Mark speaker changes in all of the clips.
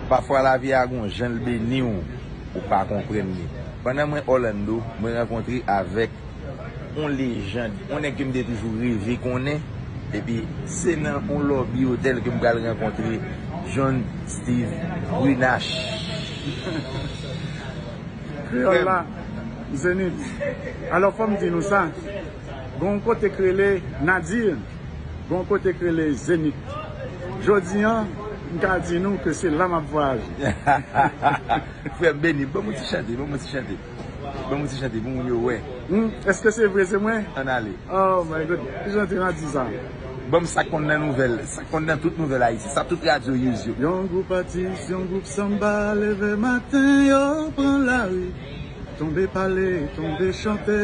Speaker 1: Pafwa lavi a gon jan l beni w ou pa konprann li. Pandan mwen Orlando, mwen rankontre avèk on lejand, on nèg ke m te toujou reve konnen, epi se nan on lòbi otèl ke m pral rankontre John Steve Brunache.
Speaker 2: Kreyòl la, Zenith. Alò fò m di nou sa. Gen yon kote k rele Nadir, gen yon kote k rele Zenith. Jodi an, m ka di nou ke se la m ap vwayaje.
Speaker 1: Frè m beni, ban mwen ti chante, ban mwen ti chante. Ban mwen ti chante pou moun yo wè. Hum, eske se vre
Speaker 2: se mwen? Ann ale. Oh
Speaker 1: my God,
Speaker 2: ki jan ti Nadir sa a? Ban m sa k konn
Speaker 1: nan nouvèl, sa k konn nan tout nouvèl Ayiti, sa tout radyo use yo. Yon gwoup atis,
Speaker 2: yon gwoup sanba leve maten yo pran lari, tonbe pale, tonbe chante.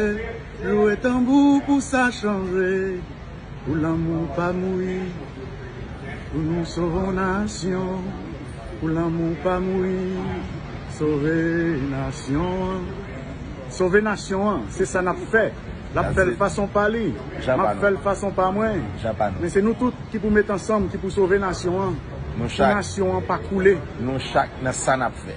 Speaker 2: Loue tanbou pou sa chanje pou lanmou pam wi pou nou sovon nasyon pou lanmou pam wi sove nasyon an sove nasyon an se sa nap fè lap fèl fason pa li map fèl fason pa mwen men se nou tout ki pou met ansanm ki pou sove nasyon an pou nasyon an pa koule nou chak nan
Speaker 1: sa nap fè.